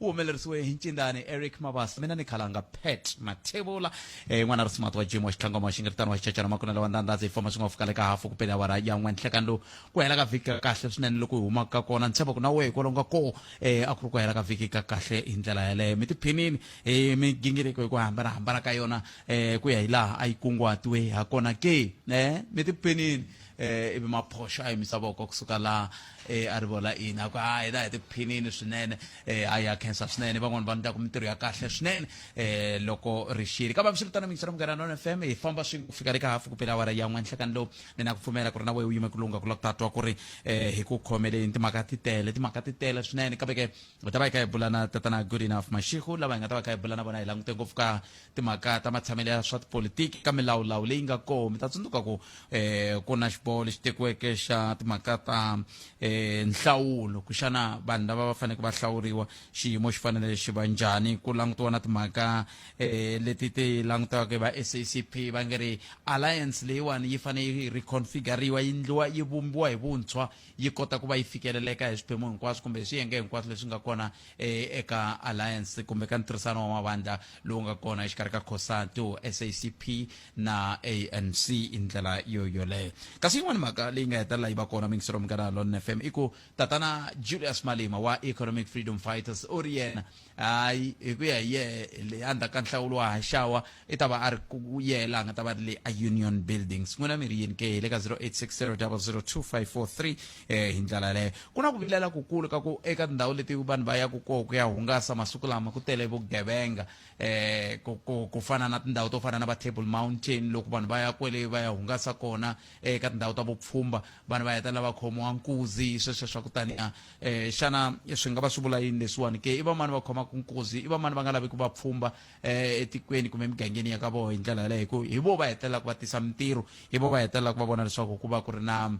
u humelerisiwe hi ncindani eric mabasa mina ni khalanga pet mathevula eh, n'wana risumati wa jim wa xitlangoma wa xingiritano wa xicacana makunelo wa ndandhazi hi famba swi nga fika le ka hafu ku pele awara ya n'we nhlekan lowu ku hela ka vhiki ka kahle swinene loko hi humaka ka kona ni tshemba ku na wehe hikwalaho nga koo eh, a ku ri ku hela ka vhiki ka kahle hi ndlela yeleyo mi tiphinini hi migingiriko hi ku hambanahambana ka yona eh, ku ya hi laha a yi kunguhatiwe ha kona ke eh, mi tiphinini eh ivi maphoxa a yimisa voko kusuka laha eh a ri vola ina ku hayi la hi tiphinini swinene eh hayi ya khensa swinene van'wani va ndlaku mintirho ya kahle swinene eh loko ri xile kambe swiritano mixo ra munghana nona fm hi famba swin'we ku fika le ka hafu ku pela awara ya n'we nhlekani lowu ni na ku pfumela ku ri na wehe u yime ku lunga ku la ku ta twa ku ri eh hi ku khomeleni timhaka ti tele timhaka ti tele swinene kambe ke hi ta va hi kha hi bula na tatana good enough mashikhu lava hi nga ta va hi kha hi bula na vona hi langute ngopfu ka timhaka ta matshamelo ya swa tipolitiki ka milawulawu leyi nga kona mi ta tsundzuka ku um ku na xiboho lexi tekiweke xa timhaka ta um nhlawulo kuxana vanhu lava va faneleke va hlawuriwa xiyimo xi fanele xi va njhani ku langutiwa na timhaka um leti ti langutiwaka hi va sacp va nge ri alliance leyiwani yi fanele yi reconfiguriwa yi ndliwa yi vumbiwa hi vuntshwa yi kota ku va yi fikeleleka hi swiphemu hinkwaswo kumbe hi swiyenge hinkwaswo leswi nga kona e, eka alliance kumbe ka ntirhisano wa mavandla lowu nga kona exikarhi ka cosatu sacp na anc hi ndlela yo yoleyo kasi yin'wana mhaka leyi nga hetelela yi va kona mingiselo munghana lon f m i ku tatana julius malima wa economic freedom fighters u ri yena hayi hi ku ya hi yena le endzhaku ka nhlawulo wa haxawa i ta va a ri ku yela a nga ta va ri le a union buildings n'wina mi ri yini ke hi le ka 0860002543 eh, hi ndlela yaleyo ku na ku vilela kukulu ka ku eka tindhawu leti vanhu va yaku koho ku ya hungasa masiku lama ku tele vugevenga eh, ku, ku, ku fana na tindhawu to fana na va table mountain loko vanhu va ya kwele va ya hungasa kona eh, eka tindhawu ta vupfhumba vanhu va hetelela va khomiwa nkuzi sweswo swa ku taniya eh, xana swi nga va swi vula yini leswiwani ke i vamani va khomaka nkuzi i vamani va nga lavi ku va pfhumba eh, etikweni kumbe emigangeni ya ka vona hi ndlela yaleyo hi ku hi vo va hetelelaka va tisa mintirho hi vo va hetelelaka va vona leswaku ku va ku ri na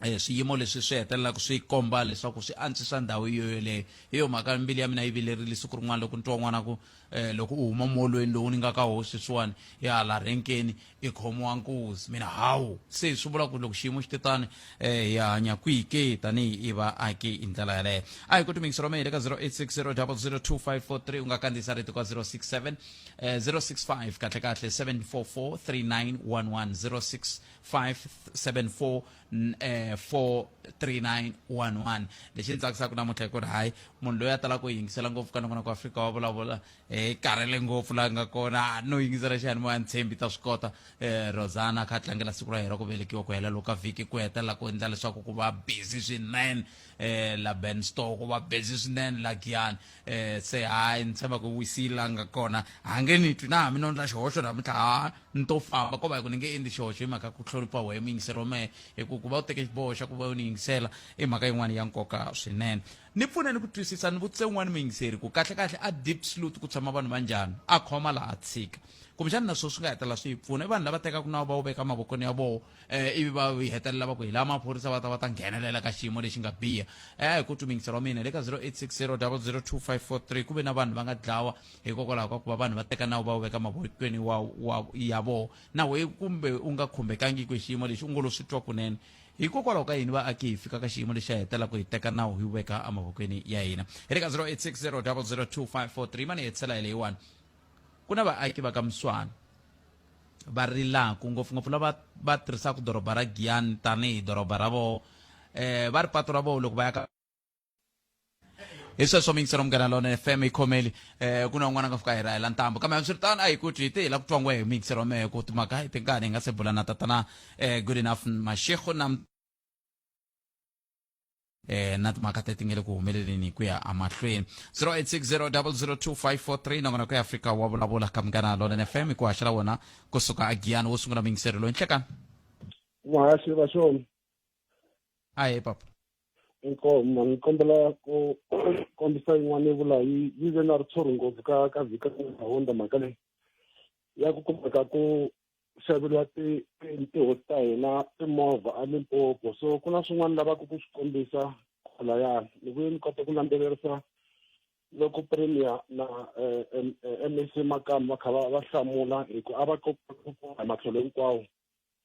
eh, swiyimo leswi swi hetelelaka swi komba leswaku swi antswisa ndhawu yo yoleyo hi yo mhaka mbili ya mina yi vilerile siku rin'wana loko ni twa n'wana ku um loko u huma molweni lowu ni nga ka hosi sweswiwani ya hala renkeni i khomiwa nkuzi mina hawu se swi vula ku loko xiyimo xi te tani um hi hanya kwihi ke tanihi i vaaki hi ndlela yaleyo a hi ku timingisi ro mehe le ka 0860002543 u nga kandziyisa rito ka 067 um 065 kahlekahle 7443911 065743911 lexi ni tsakisaka namuntlha hi ku ri hayi munhu loyi a talaka ku yingisela ngopfu ka nongonoko wa afrika wa vulavula hi karhele ngopfu laha nga kona no yingisela xiyanimoya ntshembi ta swi kota um rosana kha tlangela siku ra yena ku velekiwa ku hela loko ka vhiki ku hetelela ku endla leswaku ku va busy swinene um la ben store ku va busy swinene la giyani um se hayi ni tshemba ku wisile la nga kona ha nge ni twi na hambi no ndla xihoxo namuntlha ha ni to famba ko va hi ku ni nge endli xihoxo hi mhaka ku hlonipha wehe muyingiseri wa mehe hi ku ku va u teke xiboho xa ku va u ni yingisela i mhaka yin'wana ya nkoka swinene Ni pfune ni ku twisisa, ni vutise un'wana muyingiseri ku, Kahle-kahle, eDiepsloot ku tshama vanhu va njhani? A khoma laha a tshika. Kumbexana na sweswi swi nga hetelela swi hi pfuna. I vanhu lava tekaka nawu va wu veka emavokweni ya vona, um ivi va hetelela va ku, Hi laha maphorisa va ta va ta nghenelela ka xiyimo lexi nga biha. A hi kotwi muyingiseri wa mina. Le ka 0860002543 ku ve na vanhu va nga dlawa hikokwalaho ka ku va vanhu va teka nawu va wu veka emavokweni wa, wa, ya vona. Na wehe kumbe u nga khumbekangiki hi xiyimo lexi, u ngo lo swi twa kunene. Hikokwalaho ka yini vaaki hi fika ka xiyimo lexi hetelaka hi teka nawu hi wu veka emavokweni ya hina? Hi le ka 0860002543 mani hi hetisela hi leyiwani. Ku na vaaki va ka Muswana va rilaku ngopfungopfu lava va tirhisaka doroba ra Giyani tanihi doroba ra voho um va ri patu ra voho loko va ya ka hi sweswo mingisela munghana lona fm yi khomeli um ku na un'wana a nga fika hi rahela ntambo kambe hambiswiritano a hi kuti hi te hi la ku twa ngwe hi mingisela mehe ku timhaka hi tinkani hi nga se bula na tatana um good enough mashego na eh na timhaka teti nge le ku humeleleni ku ya amahlweni 0860002543 nakona ku ya afrika wa vulavula ka munghana lona fm ku haxela wona kusuka a giyani wo sungula mingiselelo hi nhlekani muhasi va swona a hi papa inkomo ngikombela ku kombisa yin'wana yivula yi yi ve na ritshuri ngopfu ka ka vhika honda mhaka leyi ya ku kumeka ku xaveriwa tihosi ta hina timovha alimpopo so ku na swin'wana lavaka ku swi kombisa kwalayani ni vuye ni kota ku landzelerisa loko premier na eh, eh, mac makama va kha va hlamula hi ku a va matlhelo hinkwawo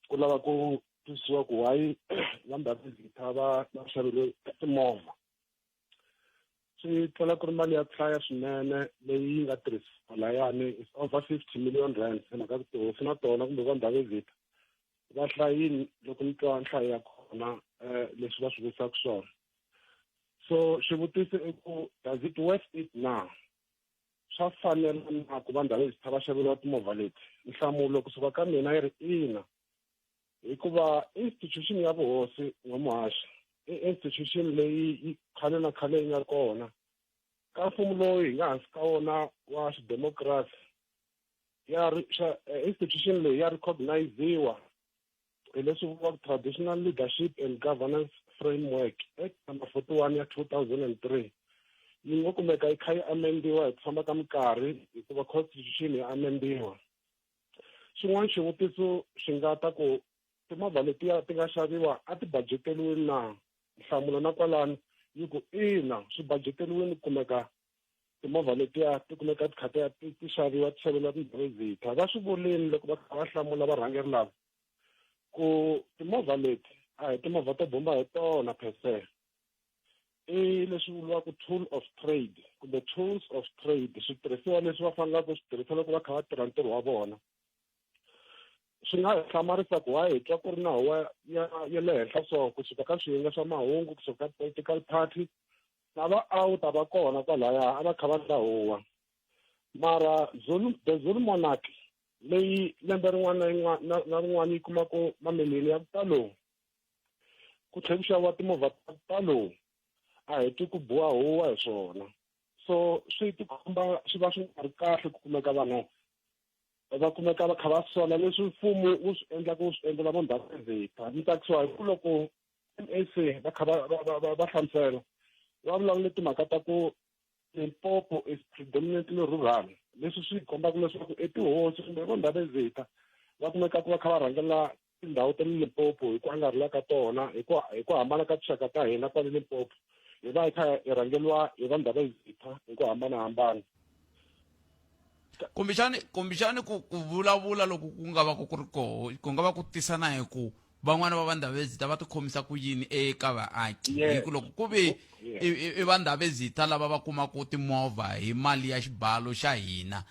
ku lava ku twisisiwa ku why va ndhavuko va va xavele timovha swi tlhela ku ri mali ya ku hlaya swinene leyi nga tirhisiwa layani is over fifty million rand hi mhaka ku tihosi na tona kumbe va ndhavuko va hlayini loko ni twa nhlayo ya kona um leswi va swi vutisaka swona so xivutiso i ku does it worth it now swa fanela na ku vandhu va le zitha va xaveriwa timovha leti nhlamulo kusuka ka mina yi ri ina hikuva institution ya vuhosi n'wamuhaxi i institution leyi yi khale na khale yi nga kona ka mfumo lowu hi nga hansi ka wona wa xidemokirasi ya eh, institution leyi ya recogniziwa hi leswi vuriwaka traditional leadership and governance framework act number 41 ya 2003 yi ngo kumeka yi kha yi amendiwa hi ku famba ka minkarhi hikuva constitution ya amendiwa xin'wana xivutiso xi nga ta ku timovha letiya ti nga xaviwa a ti bajeteriwini na nhlamulo na kwalani yi ku ina swi bajeteriwini kumeka timovha letiya ti kumeka ti kha ti ya ti ti xaviwa ti xaveriwa tindhawu ezitha va swi vulini loko va kha va hlamula varhangeri lava ku timovha leti a hi timovha to bomba hi tona per se i leswi vuriwaka tool of trade kumbe tools of trade switirhisiwa leswi va fanelaka swi tirhisa loko va kha va tirha ntirho wa vona swi nga hlamarisa ku waye hi twa ku ri na huwa ya ya le henhla so kusuka ka swiyenge swa mahungu kusuka ka political party Lava a wu ta va kona kwalaya a va kha va dlahuwa. Mara Zulu, the Zulu monarch leyi lembe rin'wana na rin'wana yi kumaka mamiliyoni ya ku talo ku tlhe ku xaviwa timovha ta ku talo a hi twi ku biwa huwa hi swona so swi tikomba swi va swi nga ri kahle ku kumeka vanhu va kumeka va kha va sola leswi mfumo wu swi endlaka wu swi endlela vo ndhavuko ni tsakisiwa hi ku loko sa va kha va hlamusela va vulavule timhaka ta ku limpopo is predominantly rural leswi swi kombaka leswaku etihosi kumbe vo ndhavezita va kumeka ku va kha va rhangela tindhawu ta le limpopo hi ku angarhela ka tona hi ku hi ku hambana ka tinxaka ta hina kwale limpopo hi va hi kha hi rhangeriwa hi va ndhavezita hi ku hambanahambana kumbexani kumbexani ku ku vulavula loko ku nga va ku ku ri koho ku nga va ku tisa na hi ku van'wana va vandhavezita va tikhomisa ku yini eka vaaki hi ku loko ku ve i vandhavezita lava va kumaka timovha hi mali ya xibalo xa hina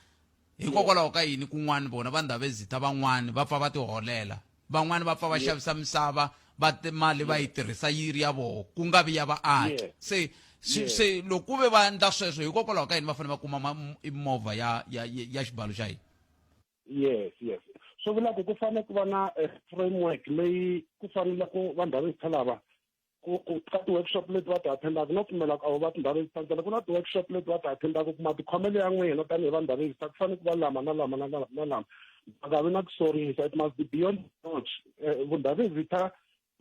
hikokwalaho ka yini kun'wani vona vandhavezita van'wani va pfa va tiholela van'wani va pfa va xavisa misava va mali va yi tirhisa yi ri ya voho ku nga vi ya vaaki se se loko ku ve va endla sweswo hikokwalaho ka yini va fanele va kuma movha ya ya ya xibalo xa yini yes yes swi vula ku ku fanele ku va na eh, framework leyi ku fanele ku vandhavuko lava ku ku ka ti-workshop leti va ti attendaka no pfumela ku a wu va tindhawu leti tsandzela ku na ti-workshop leti va ti attendaka u kuma tikhomelo ya n'wina tanihi vanhu va register ku fanele ku va lama na lama na lama na lama va nga vi na ku sorisa it must be beyond reproach eh, vundhavezitha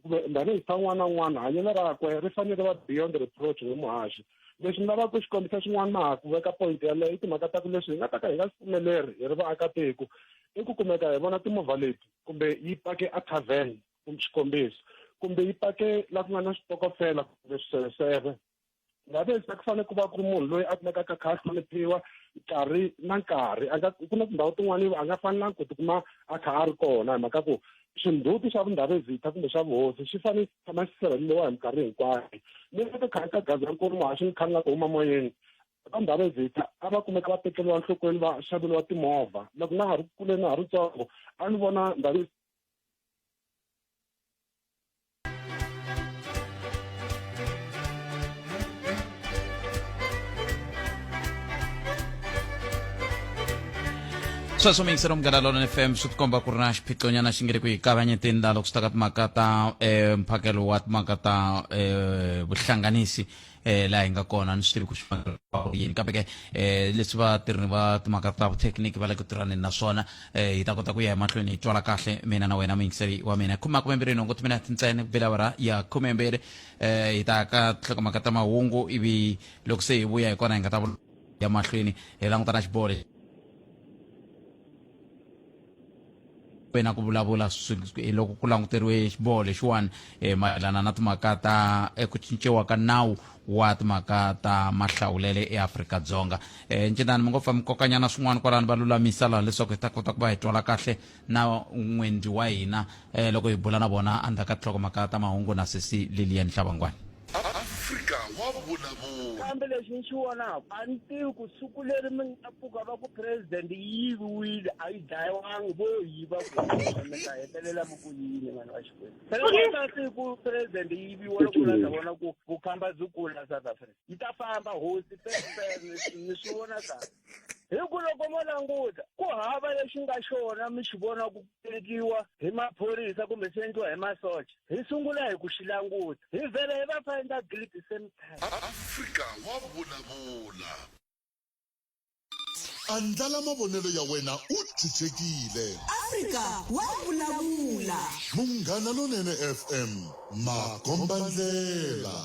ndhavezitha n'wana n'wana hanyelo rakwe ri fanele va beyond reproach hi muhaxi leswi ni lavaka ku xi kombisa xin'wana na ha ku veka point yaleyo i timhaka ta ku leswi hi nga ta ka hi nga swi pfumeleri hi ri vaakatiko i ku kumeka hi vona timovha leti kumbe yi pake a tavern kumbe xikombiso kumbe yi pake la ku nga na switokofela kumbe swiseveseve ngabe se ku fanele ku va ku ri munhu loyi a kumekaka kha a hloniphiwa nkarhi na nkarhi a nga ku na tindhawu tin'wana a nga fanelanga ku tikuma a kha a ri kona hi mhaka ku swindzhuti swa vundhavezitha kumbe swa vuhosi swi fanele swi tshama swi sirheleliwa hi minkarhi hinkwayo ni va ka khari ka gaza nkulu mahaxi ni khani nga ku huma moyeni va ndhavezitha a va kumeka va tekeriwa nhlokweni va xaveriwa timovha loko na ha ri kule na ha ri ntsongo a ni vona ndhavezitha sweswo miyingiselo munghana lona fm swi tikomba ku ri na xiphixonyana xi nge ri ku hi kavanyeteni laha loko swi ta ka timhaka ta um mphakelo wa timhaka ta um vuhlanganisi eh laha hi nga kona ni swi tivi ku xivangelo yini kambe ke eh leswi va tirhi va timhaka ta vuthekiniki va le ku tirhaneni na swona eh hi ta kota ku ya emahlweni hi twala kahle mina na wena muyingiseli wa mina khume makume mbirhi nhungu timina tintsene bilavara ya khume mbirhi eh hi ta ka tlhokomhaka ta mahungu ivi loko se hi vuya hi kona hi nga ta ya mahlweni hi langutana xiboho lexi wena ku vulavula hi loko ku languteriwe xiboho lexiwani um mayelana na timhaka ta eku cinciwa ka nawu wa timhaka ta mahlawulele eafrika-dzonga um e, ncinani mi ngo pfa mi kokanyana swin'wana kwalani va lulamisa laha leswaku hi ta kota ku va hi twala kahle na n'wendli wa hina Eh, loko hi bula na vona endzhaku ka tinhlokomhaka ta mahungu na sesi lilian hlavangwani afrika wa vulavula kambe lexi ni xi vonaka a ni tivi ku siku leri mi nga pfuka va ku president yi yiviwile a yi dlayiwangi vo yiva mi ta hetelela mi ku yini vanhu va xikwembu seaa siku president yi yiviwa loko la ta vona ku vukhamba byi kula south africa yi ta famba hosi ni swi vona kahle hi ku loko mo languta ku hava lexi nga xona mi xi vona ku tekiwa hi maphorisa kumbe swi endliwa hi masocha hi sungula hi ku xi languta hi vhele hi va fa endla grid same time afrika wa vulavula andlala mavonelo ya wena u chuchekile afrika wa vulavula munghana lonene fm makombandlela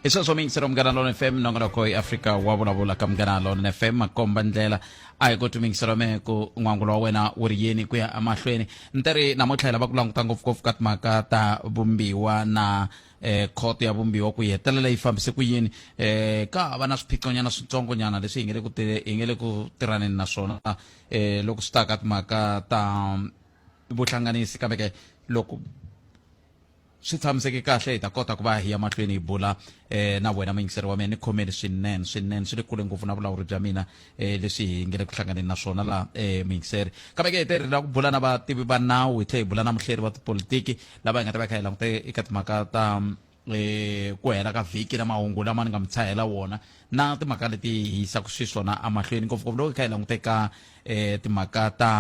i sweswo miyingiselo munghana lona fm nongonoko yi afrika wa vulavula ka munghana lona fm makomba ndlela a hi koti miyingiselo me ku n'wangulo wa wena wu ri yini ku ya emahlweni nte ri namuntlha hi lava ku languta ngopfungopfu ka timhaka ta vumbiwa na eh, khoto ya vumbiwa ku yi hetelela yi fambise ku yini eh, ka hava na swiphiqonyana switsongonyana leswi hi nge le ku ti- hi nge le ku tirhaneni na swona eh, loko swi ta ka timhaka ta vuhlanganisi kambe ke loko swi tshamiseke kahle hi ta kota ku va hi ya mahlweni hi bula eh na wena muyingiseri wa mina ni khomeni swinene swinene swi le kule ngopfu na vulawuri bya mina eh leswi hi nge le ku hlanganeni na swona laha eh muyingiseri kambe ke hi te ri lava ku bula na vativi va nawu hi tlhe hi bula na muhleri wa tipolitiki lava hi nga ta va kha hi langute eka timhaka ta e ku hela ka vhiki na mahungu lama ni nga mi tshahela wona na timhaka leti hi yisaka xiswona amahlweni ngopfungopfu loko hi kha hi languteka um timhaka ta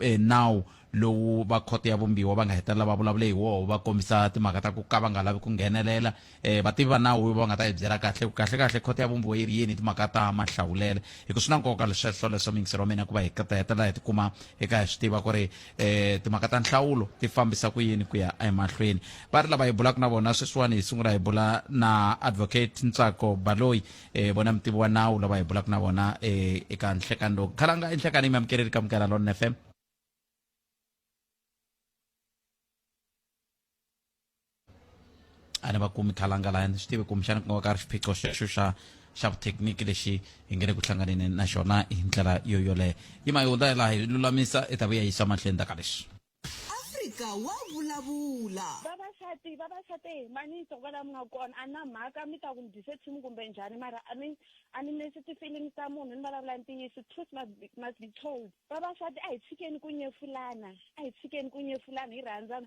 e, nawu lowu va khoto ya vumbiwa va nga hetelela va vulavule hi woho va kombisa timhaka ta ku ka va nga lavi ku nghenelela um vativi va nawu va nga ta hi byela kahle ku kahle kahle khoto ya vumbiwa yi ri yini timhaka ta mahlawulelo hi ku swi na nkoka lesweswo leswo mingiselo wa mina ku va hi hetelela hi tikuma hi ka hi swi tiva ku ri eh timhaka ta nhlawulo ti fambisa ku yini ku ya emahlweni va ri lava hi bulaka na vona sweswiwani hi sungula hi bula na advocate ntsako baloyi eh vona mutivi wa nawu lava hi bulaka na vona eh eka nhlekani lowu khalanga enhlekani yi mi amukeleli ka mukela lona fm a ni va kumi khalanga laya ni swi tivi kumbexana ku nga va ka ri xiphiqo xexo xa xa vuthekiniki lexi hi nge le ku hlanganeni na xona hi ndlela yo yoleyo yi ma yi hundza hi laha hi lulamisa i ta vuya yisa mahlweni ta ka leswi afrika wa vulavula vavasati vavasati hi manisa ku va la mi nga kona a na mhaka mi ta ku ni dyise tshimu kumbe njhani mara a ni a ni nesi tifilimi ta munhu ni vulavula ntiyiso truth must be, must be told vavasati a hi tshikeni ku nyefulana a hi tshikeni ku nyefulana hi rhandzana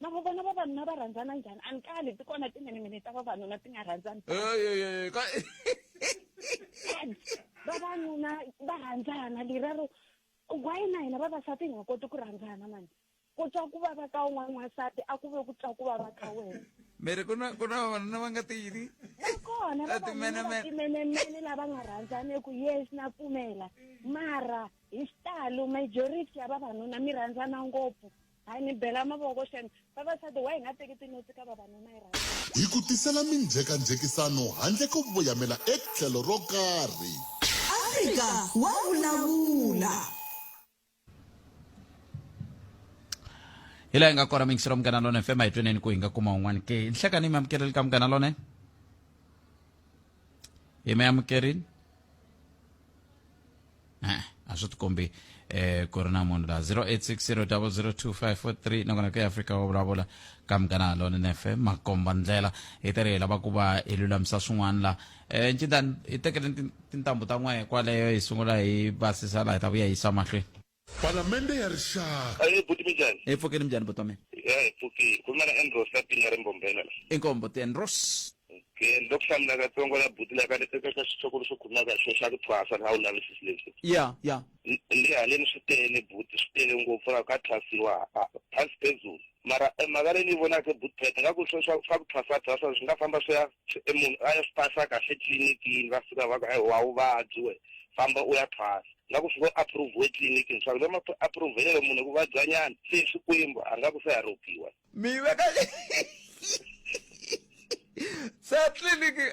lava vona vavanuna va rhandzana njhani a ni kali ti kona timenemene ta vavanuna ti nga rhandzani vavanuna va rhandzana lerero why na hina vavasati hi nga koti ku rhandzana mani ku twa ku vava ka un'wana n'wansati a ku ve ku twa ku vava ka wena miri ku na ku na vavanuna va nga ti yini va kona vavanunaatimenemene lava nga rhandzane ku yes na pfumela mara hi xitalo majority ya vavanuna mi rhandzana ngopfu Hi ni bela mavoko xen vavasati wa hi nga teki tinotsi ka vavanuna hi rhandza. Hi ku tisela minjhekanjhekisano handle ko voyamela etlhelo ro karhi. Afrika wa vulavula. hi laha hi nga kona mixi ra munghana lone fm hi tweneni ku hi nga kuma un'wana ke hi nhlekani mi amukeleli ka munghana lone hi mi amukerini Eh, a swi tikombi eh ku ri na munhu la 0860002543 nakona ku ya afrika wa vulavula ka munghana lone nefe makomba ndlela hi tele hi lava ku va hi lulamisa swin'wana la eh ncindani hi tekele tin- tintambu ta n'we kwaleyo hi sungula hi basisa la hi ta vuya hi yisa mahlweni Palamende ya Rixaka. Ahee buti minjhani? Hi pfukile minjhani buti wa mina? Ya hi pfukile. Ku na Andros ka Pinga ri Mbombela la. Inkomu buti Andros. Okay, ni lo ku hlamula katsongo la buti la ka ni teka ka xitshoko lexi khumaka xo xa ku thwasa na wu lavisisi leswi. Ya, ya. Ni haleni swi tele buti swi tele ngopfu la ka thwasiwa phansi phezulu. Mara mhaka leyi ni yi vonaka buti Peta nga ku swo swa swa ku thwasa thwasa swi nga famba swi ya munhu a ya swi pasa kahle tliliniki va fika va ku wa vuvabyi we famba u ya thwasa. nga ku swi approve etliliniki leswaku loko ma approvelelo munhu ku vabyanyana se xikwembu a nga ku se haropiwa mina ka se tliliniki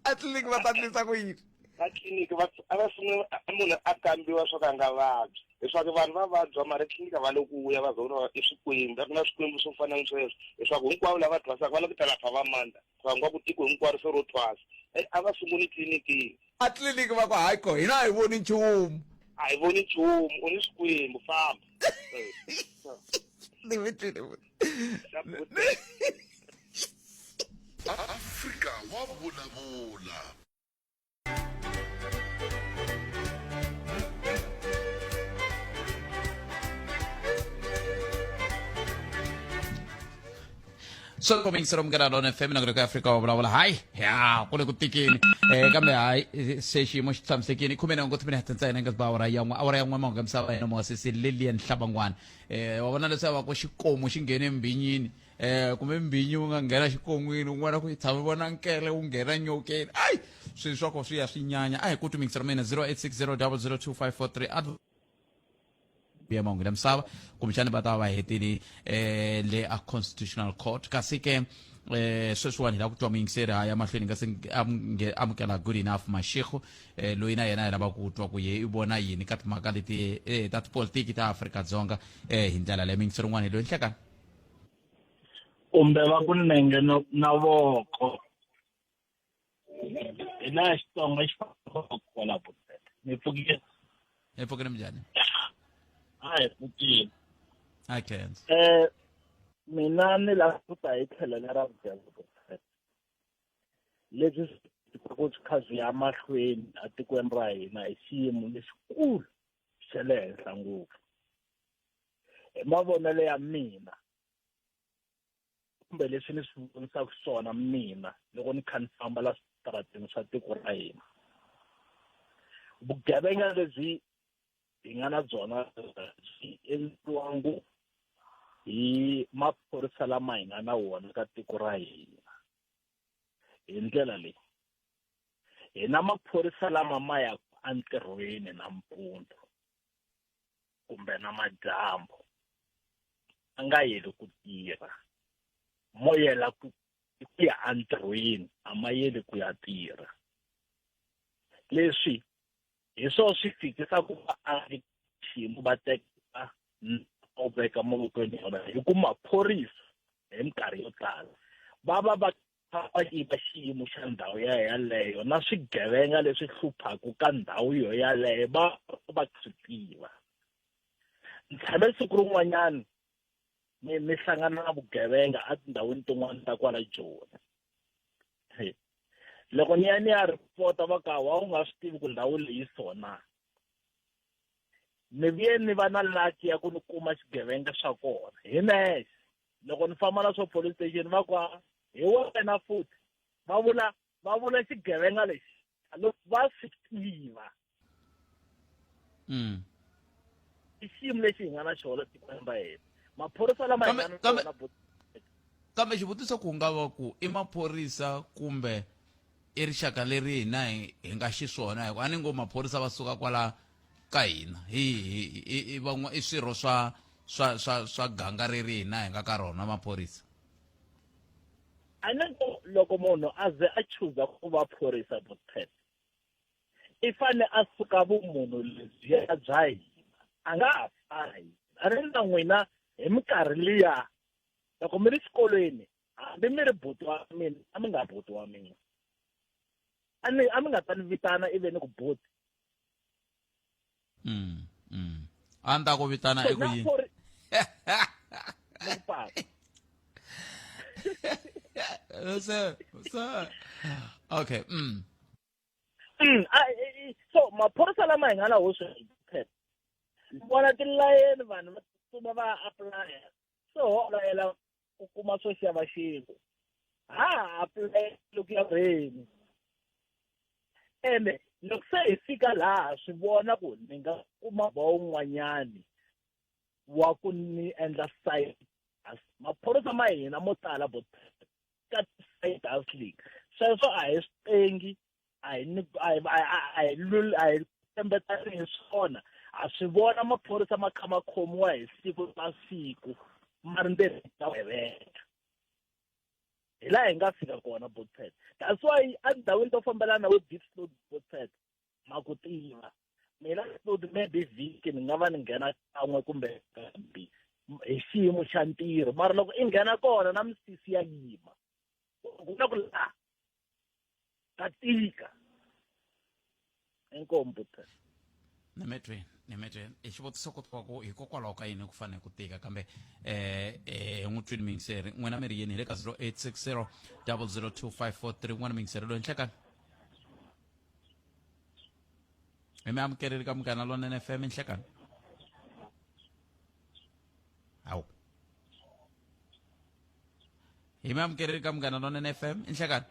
atliliniki va ta tlisa ku yini atliliniki va a va sungula munhu a kambiwa swo ka nga vabyi leswaku vanhu va vabya mara tliliniki va loku vuya va zona i swikwembu a ku na swikwembu swo fana ni sweswo leswaku hinkwavo lava thwasaka va lava ku ta lapha va mandza va nga ku tiko hinkwaro se ro thwasa a va sunguli tliliniki A tliliniki va ku, Hayi ko, hina a hi voni nchumu. A hi voni nchumu, u ni swikwembu, famba. Ni mi twile futhi. Afrika wa vulavula. so komingisira mukera lona fm na ku afrika wa vulavula hayi ya ku le ku tikini um kambe hayi eh, se xiyimo xi tshamisekini khume na ngoti minete ntsena nga ba awara yan'we awara yan'we mahungu ya misava yena mosisi lilian hlabangwana um wa vona leswaku va ku xikomu xi nghene embinyini um kumbe mbinyi wu nga nghena xikon'wini un'wana ku yi tshami vona nkele wu nghena nyokeni ayi swilo swa ko swi ya swi nyanya a hi ku tumingisira mina 086 000 2543 ya mahungu ya misava kumbexani va ta va va hetile eh, le a constitutional court kasi ke eh, sweswiwani hi lava ku twa muyingiseri ha ya mahlweni nga se nge- amunge- amukela good enough mashikhu eh, loyi na yena hi lava ku twa ku ye i vona yini ka timhaka leti eh, ta tipolitiki ta afrika dzonga eh, hi ndlela leyi muyingiseri un'wana hi loyi nhlekani kumbe va ku nenge no- na voko hi laha xitsonga xi fambaka kwala bosete mi pfukile hi pfukile minjhani a hi pfukile a khensa um mina ni lava ku ta hi tlhelo lera vudyelo bosete leswi swi ku swi kha swi ya mahlweni etikweni ra hina hi xiyimo lexikulu xa le henhla ngopfu hi mavonelo ya mina kumbe leswi ni swi vonisaka swona mina loko ni kha ni famba la switarateni swa tiko ra hina vugevenga lebyi hi nga na byona byi endliwa ngopfu hi maphorisa lama hi nga na wona ka tiko ra hina hi ndlela leyi hi na maphorisa lama ma yaka entirhweni nampundzu kumbe na madyambu a nga yeli ku tirha mo yela ku ku ya entirhweni a ma yeli ku ya tirha leswi hi swo swi fikisa ku va a ri xiyimo va teka u veka mavokweni yona hi ku maphorisa hi minkarhi yo tala va va va papaki va xiyimo xa ndhawu ya yaleyo na swigevenga leswi hluphaka ka ndhawu yo yaleyo va va swi tiva ni tshame siku rin'wanyana ni ni hlangana na vugevenga etindhawini tin'wana ta kwala joni loko ni ya ni ya ripota va ka wa u nga swi tivi ku ndhawu leyi sona ni vuye ni va na laki ya ku ni kuma xigevenga xa kona hi nexe loko ni famba na swo police station va ku hi wena futhi va vula va vula xigevenga lexi loko va swi tiva mm. i xiyimo lexi hi nga na xona tikweni ra hina maphorisa lama hi nga na xona kambe xivutiso ku nga va ku i maphorisa kumbe I rixaka leri hina hi hi nga xiswona hikuva a ni ngo maphorisa va suka kwala ka hina hi i van'wa i swirho swa swa swa swa ganga reri hina hi nga ka rona maphorisa a ni ngo loko munhu a ze a chuza ku va phorisa bospet i fane a suka vumunhu lebyiya bya hina a nga ha fana hina a ni na n'wina hi minkarhi liya loko mi ri xikolweni hambi mi ri buti wa mina a mi nga buti wa mina a ni a mi nga ta ni vitana ive ni ku buti mm mm a ni ta ku vitana i ku yini so so okay mm mm so maphorisa lama hi nga na hoxo vona tilayeni vanhu va tsutsuma va apply so layela ku kuma swo xava xin'we ha ha apulele ku ya rheni ene loko se hi fika laha swi vona ku ni nga kuma ba un'wanyani wa ku ni endla side maphorisa ma hina mo tala bo ka side house league sweswo a hi swi tengi a hi ni a hi a hi- a hi lul- a hi tshembetani hi swona ha swi vona maphorisa ma kha ma khomiwa hi siku na siku ma ri ntirho ta vugevenga hi laha hi nga fika kona botset that's why endhawini to fambelana na vo deep snow botset ma ku tiva mina snood maybe vhiki ni nga va ni nghena kan'we kumbe kambi hi xiyimo xa ntirho mara loko i nghena kona na misisi ya yima ku na ku laha ka tika inkomu buta ni mi twi ni mi twi i xivutiso ku twa ku hikokwalaho ka yini ku fanele ku tika kambe eh eh n'wi twini mingiseri n'wina mi ri yini hi le ka 0860 002543 n'wana mingiseri loyi nhleka hi mi amukerile ka munghana lonene fm nhlekani hawu hi mi amukerile ka munghana lonene f m inhlekani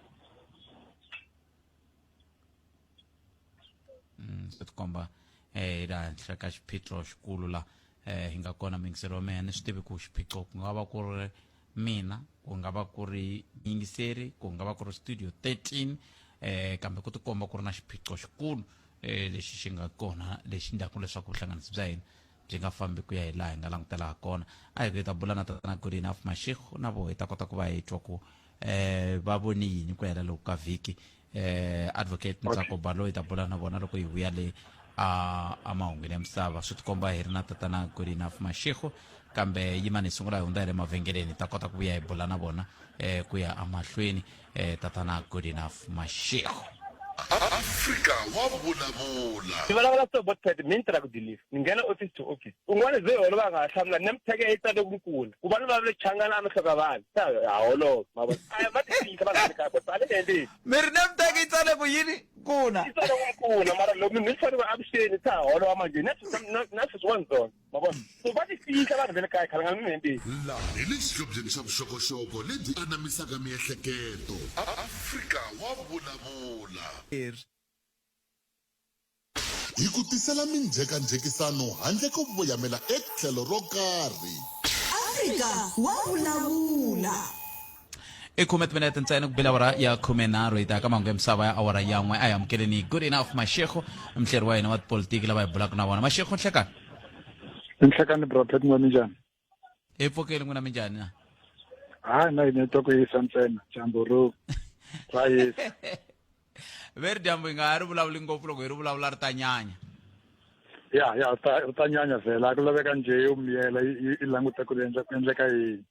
Mm, swi tikomba eh la henhla ka xiphiqo xikulu la eh hi nga kona mingiselo wa mehe ni swi tivi ku xiphiqo ku nga va ku ri mina ku nga va ku ri yingiseri ku nga va ku ri studio 13 eh kambe ku tikomba ku ri na xiphiqo xikulu eh lexi xi nga kona lexi ndlaku leswaku vuhlanganisi bya hina byi nga fambi ku ya hi laha hi nga langutela ha kona a hi ku hi ta bula na tatana good enough mashikhu na vo hi ta kota ku va hi twa ku um va voni yini ku hela loko ka vhiki um advocate ntsako balo hi ta bula na vona loko hi vuya le a mahungwini ya misava swi tikomba hi ri na tatana good enough mashikhu kambe yimani hi sungula hi hundza hi le mavhengeleni hi ta kota ku vuya hi bula na vona um ku ya emahlweni eh, tatana good enough mashego afrika wa vulavula ni vulavula so bot pad mi ni tirha ku deliver ni nghena office to office un'wana ze holo va nga ha hlamula ni mitheke yi tsale ku kula ku va ni va le changana a mi hloka vanhu sa ha holova ma vona a ma tiyisa vanhu ka bot pad le le mi ri na mitheke yi tsale ku yini kuna yi tsale ku kula mara loko mi ni fanele avuxeni sa holova manje na na sweswi wa ndzona ma vona so va ti fihla vanhu va le kaya khalangana mi hembeni laha hi le xihlobyeni xa vuxokoxoko lebyi anamisaka miehleketo afrika wa vulavula hi ku tisela minjhekanjhekisano handle ko voyamela etlhelo ro karhi afrika wa vulavula i khume timinete ntsena ku bela awara ya khume nharhu hi ta ka mahungu ya misava ya awara ya n'we a hi amukeleni good enough mashekho mhleri wa hina wa tipolitiki lava hi bulaka na vona mashekho nhlekani nhlekani brapet n'we minjhani hi pfukeli n'wina minjhani na hayi na hina to ku yisa ntsena dyambu ro ra yisa ve ri dyambu hi nga ha ri vulavuli ngopfu loko hi ri vulavula ri ta nyanya ya ya ri ta nyanya vhela ku laveka njhe yo miyela yi languta ku ri endla ku endleka yini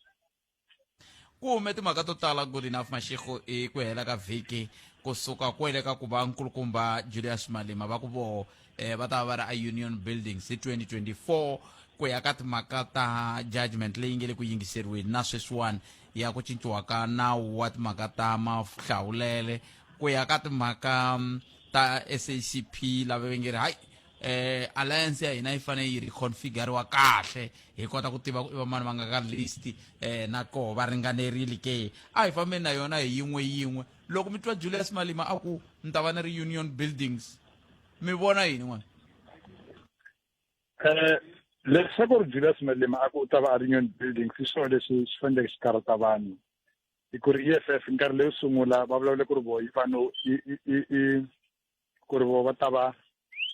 ku hume timhaka to tala good enough mashego hi ku hela ka vhiki kusuka kwele ka ku va nkulukumba julius malima va ku voho eh, va ta va va ri a union buildings hi 2024 ku ya ka timhaka ta judgment leyi nge le ku yingiseriweni na sweswiwani ya ku cinciwa ka nawu wa timhaka ta mahlawulele ku ya ka timhaka mm, ta sacp lava va nge ri hayi eh alliance ya hina yi fanele yi reconfiguriwa kahle hi kota ku tiva ku i vamani va nga ka list eh na koho va ringanerile ke a hi fambeni na yona hi yin'we yin'we loko mi twa julius malima a ku ni ta va ni ri union buildings mi vona yini n'wana um leswi ku ri julius malima a ku u ta va a ri union buildings i swona leswi swi faneleke xi karata vanhu hi ku ri e f f nkarhi leyo sungula va vulavule ku ri voyi vanhu ku ri vo va ta va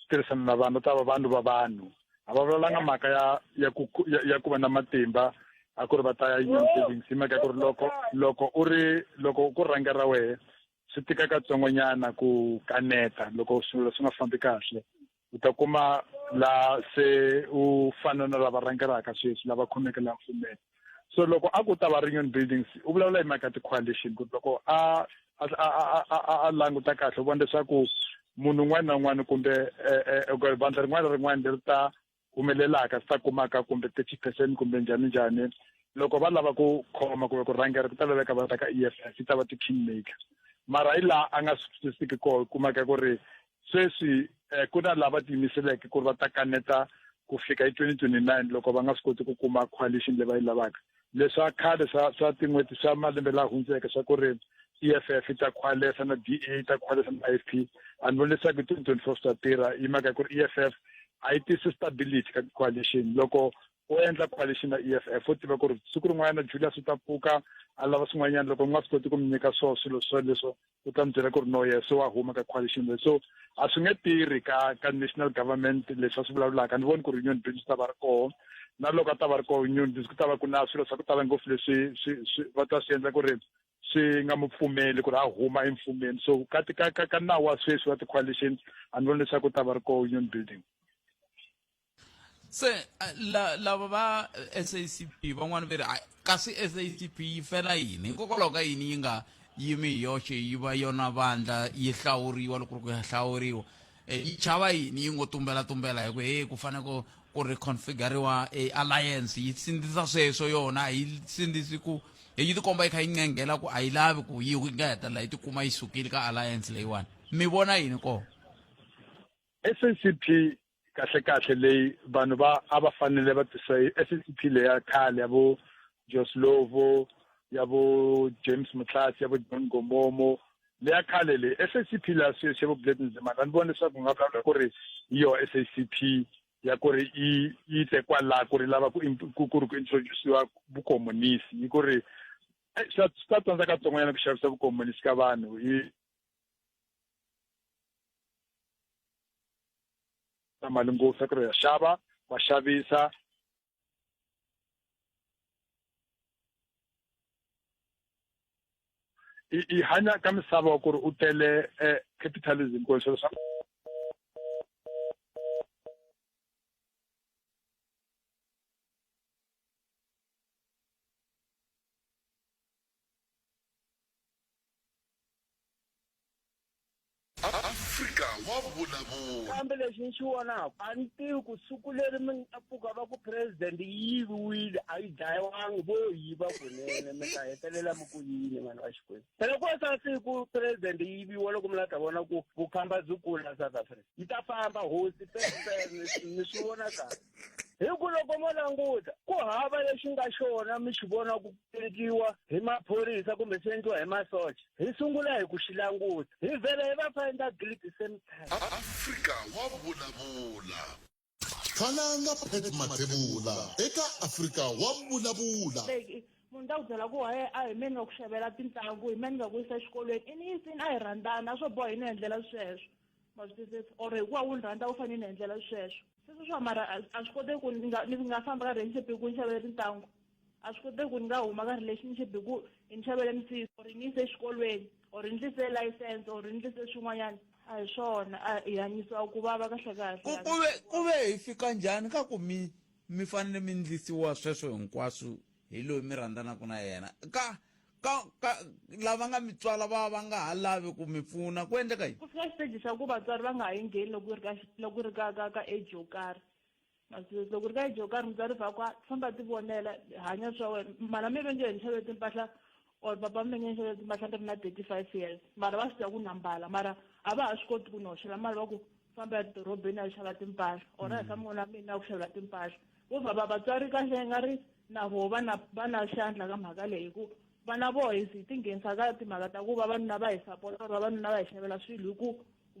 tirhisana na vanhu va ta va vanhu va vanhu a va vulavulanga mhaka ya ya ku ya, ya ku va na matimba a ku ri va ta ya yini savings hi mhaka ya ku ri loko loko u ri loko ku rhanga ra wehe swi tika katsongonyana ku kaneta loko swilo swi nga fambi kahle u ta kuma la se u fana na lava rhangelaka sweswi lava khomeke la mfumela so loko a ku ta va reunion buildings u vulavula hi mhaka ti-coalition ku loko a a languta kahle u vona leswaku munhu un'wana na un'wana kumbe eh, eh, eh, vandla rin'wana na rin'wana leri ta humelelaka swi ta kumaka kumbe thirty percent kumbe njhani njhani loko va lava ku khoma kumbe ku rhangela ku ta laveka va ta ka e f f yi ta va ti-king maker mara hi laha a nga swi twisisiki koho kumaka ku ri Sweswi eh, ku na lava tiyimiseleke ku ri va ta kaneta ku fika hi 2029 loko va nga swi koti ku kuma coalition leyi va yi lavaka leswa khale swa swa tin'hweti swa malembe laha hundzeke swa ku ri EFF yi ta khwalesa na DA yi ta khwalesa na IFP a ni voni leswaku hi 2024 swi ta tirha hi mhaka ku ri EFF a yi tisi stability ka coalition loko u endla coalition na EFF u tiva ku ri siku rin'wanyana Julius u ta pfuka a lava swin'wanyana loko ni nga swi koti ku mi nyika swo swilo swo leswo u ta ni byela ku ri no ye se wa huma ka coalition leyi so a swi nge tirhi ka ka national government leswi a swi vulavulaka ni voni ku ri union business ta va ri koho na loko a ta va ri koho union business ku ta va ku na swilo swa ku tala ngopfu leswi swi swi va ta swi endla ku ri swi nga mu pfumeli ku ri a huma emfumeni so ka ka ka nawu wa sweswi wa ti-coalition a ni voni leswaku u ta va ri koho union building se eh, la lava va SACP van'wana ve ri hayi kasi SACP yi fela yini hikokwalaho ka yini yi nga yimi hi yoxe yi va yona vandla yi hlawuriwa loko ri ku ya hlawuriwa Eh, yi chava yini yi ngo tumbela tumbela hi ku he ku fane ku ku reconfiguriwa e alliance yi sindzisa sweswo yona a yi sindzisi ku eh, yi tikomba yi kha yi nqenghela ku a yi lavi ku yi yi nga hetelela yi tikuma yi sukile ka alliance leyiwani mi vona yini kona SACP kahle kahle leyi vanhu va a va fanele va tisa SACP leya khale ya vo Joslovo ya vo James Mutlatsi ya vo John Gomomo leya khale leyi SACP la sweswi vo Blade Nzimana ni vona leswaku nga vulavula ku ri yi yo SACP ya ku ri yi yi te kwala ku ri lava ku ku ri ku introduciwa vukomunisi yi ku ri swa swa tsandza katsongonyana ku xavisa vukomunisi ka vanhu hi na mali ngopfu ku ri ya xava va xavisa i i hanya ka misava ku ri u tele eh, capitalism ku swilo swa Afrika wa vulavula. kambe lexi ni xi vonaka a ni tivi ku siku leri mi nga pfuka va ku president yi yiviwile a yi dlayiwangi vo yiva kunene mi ta hetelela mi ku yini vanhu va xikwembu phela ko sa siku president yi yiviwa loko mi la ta vona ku vukhamba byi kula south africa yi ta famba hosi pepeni ni swi vona kahle hi ku loko mo languta ku hava lexi nga xona mi xi vona ku endliwa hi maphorisa kumbe swi endliwa hi masocha hi sungula hi ku xi languta hi vhele hi va finder guilt same time afrika wa vulavula khalanga pet mathebula eka afrika wa vulavula munhu ta ku byela ku waye a hi meni nga ku xavela tintlangu hi meni nga ku yisa exikolweni i ni yisini a hi rhandzana a swo boha yi ni endlela sweswo ma swi twisisa or hikuva wu ni rhandza u fanele ni endlela sweswo sweswo swa mara a swi koteki ku ni nga ni nga famba ka relationship hi ku ni xavele tintangu a swi koteki ku ni nga huma ka relationship hi ku ni xavele misisi or ni yise exikolweni or ni ndlise license or ni ndlise swin'wanyana a hi swona a hi hanyisiwa ku vava kahlekahle ku ku ve ku ve hi fika njhani ka ku mi mi fanele mi ndlisiwa sweswo hinkwaswo hi loyi mi rhandzanaka na yena ka ka ka lava nga mi tswala va va nga ha lavi ku mi pfuna ku endleka yini ku fika xiteji xa ku vatswari va nga ha yi ngheni loko yi ri ka loko yi ri ka ka ka age yo karhi masizesi loko ri ka age yo karhi mutswari va kwa famba ti vonela hanya swa wena mhana mi ve nge hi ni xavele timpahla or papa mi ve nge ni xavele timpahla ni ri na thirty five years mara va swi tiva ku na mbala mara a va ha swi koti ku ni hoxela mali va ku famba edorobeni a yi xava timpahla or a hi ka mm. mun'wana mina a ku xavela timpahla vo vhava vatswari kahle nga ri na vo va na va na xandla ka mhaka leyi hi ku vana vo hi hi tinghenisa ka timhaka ta ku vavanuna va hi sapota or vavanuna va hi xavela swilo hi ku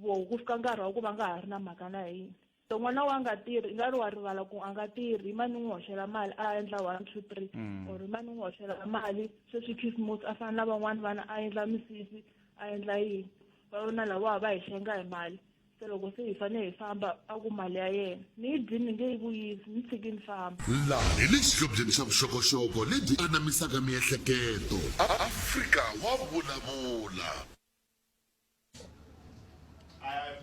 vo ku fika nkarhi wa ku va nga ha ri na mhaka na yini so n'wana wa nga tirhi i nga ri wa rivala ku a nga tirhi mani n'wi hoxela mali a endla one two three mm. or mani n'wi hoxela mali sweswi christmas a fana na van'wani vana a endla misisi a endla yini va yona lawa va hi hlenga hi mali se loko se hi fanele hi famba a ku mali ya yena ni yi dyi ni nge yi vuyisi ni tshiki ni famba laha hi le xihlobyeni xa vuxokoxoko lebyi anamisaka miehleketo afrika wa vulavula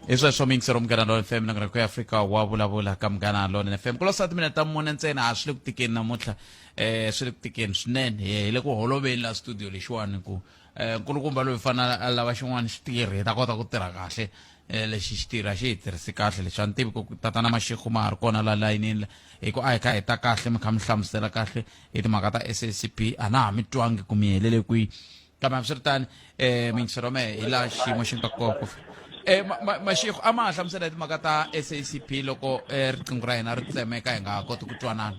hi sweswo mingisi ro munghana lona fm nangarhako ya afrika wa vulavula ka munghana lona fm ku losati mina ta mune ntsena a swi le ku tikeni namuntlha um swi le ku tikeni swinene hi le ku holoveni la studio lexiwani ku um nkulukumba loyi fanele a lava xin'wana xitirhi hi ta kota ku tirha kahle um lexi xitirhi a xi hi tirhisi kahle lexi a ni tivi ku tatana maxikhu ma ha ri kona la layinini hi ku a hi kha hi ta kahle mi kha mi hlamusela kahle hi timhaka ta s a c p a na ha mi twangi ku mi helele kwihi kambe hambiswiritani um mingisero mehe hi laha xiyimo xi nga kona ku Eh, mashikho a ma ha hlamusela hi timhaka ta sacp loko eh, riqingho ra hina ri tsemeka hi nga ha koti ku twanana